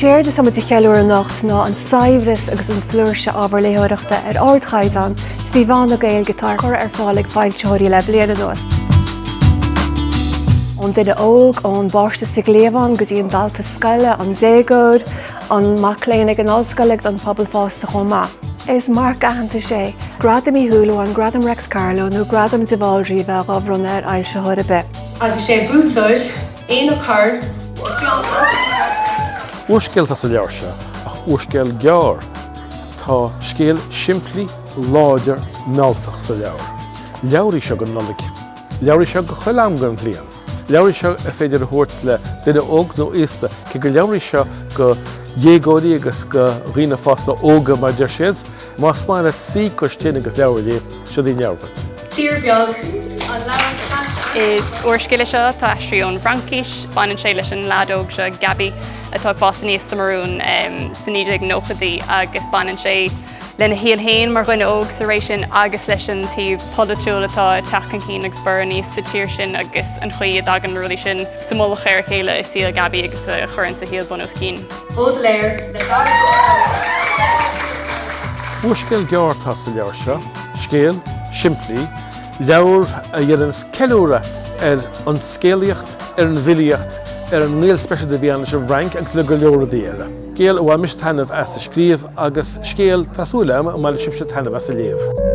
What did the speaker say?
Séard atá muid a cheiliúradh anocht ná an saibhreas agus an flúirse ábhar léitheoireachta ar ardchaighdeán trí mheán na Gaeilge atá á chur ar fáil ag foilsitheoirí le bliain anuas. Ón duine óg, ón bpáiste sa gcliabhán go dtí an dalta scoile, an déagóir, an mac léinn ag an ollscoil agus an pobal fásta chomh maith. Is marc aitheantais é Gradam Uí Shúilleabháin, Gradam Réics Carló nó Gradam de Bhaldraithe a bheith dhá bhronnadh ar fhoilsitheoir ar bith. agus sé an buaiteoir, Éanna Corr, 5 beagnach. Úrscéal atá sa leabhar seo, ach úrscéal gearr. Tá scéal simplí, láidir, mealltach sa leabhar. Leabhar í seo don Nollaig. Leabhar í seo do chuile am den bhliain. Leabhar í seo ar féidir a thabhairt le duine óg nó aosta, cé gur leabhar í seo do dhéagóirí agus do dhaoine fásta óga mar a deir siad. Más maith leat suí cois tine agus leabhar a léamh, seod í an leabhar duit. Tír Bheag, An Leabhar Taisce. Is úrscéal é seo atá aistrithe ón bhFraincis. Baineann sé leis an leaid óg seo, Gabi, atá ag fás aníos sa mBurúin sna 1990idí agus baineann sé lena shaol féin mar dhuine óg sa ré sin agus leis an taobh polaitiúil atá ag teacht chun cinn agus ag borradh aníos sa tír sin agus an chaoi a dtagann na rudaí sin sa mullach ar a chéile i saol Gabi agus a chuireanns a shaol bun os cionn. Bódléar le Darach Ó Scolaí, Pádraig Ó Scolaí. Úrscéal gearr atá sa leabhar seo, scéal simplí, leabhar a dhéanann ceiliúradh ar an scéalaíocht, ar an bhfilíocht, ar an ngaol speisialta a bhí ann leis an bhFrainc agus le go leor rudaí eile. Scéal a bhain mise taitneamh as a scríobh agus scéal, tá súil agam, a mbainfidh sibhse taitneamh as a léamh.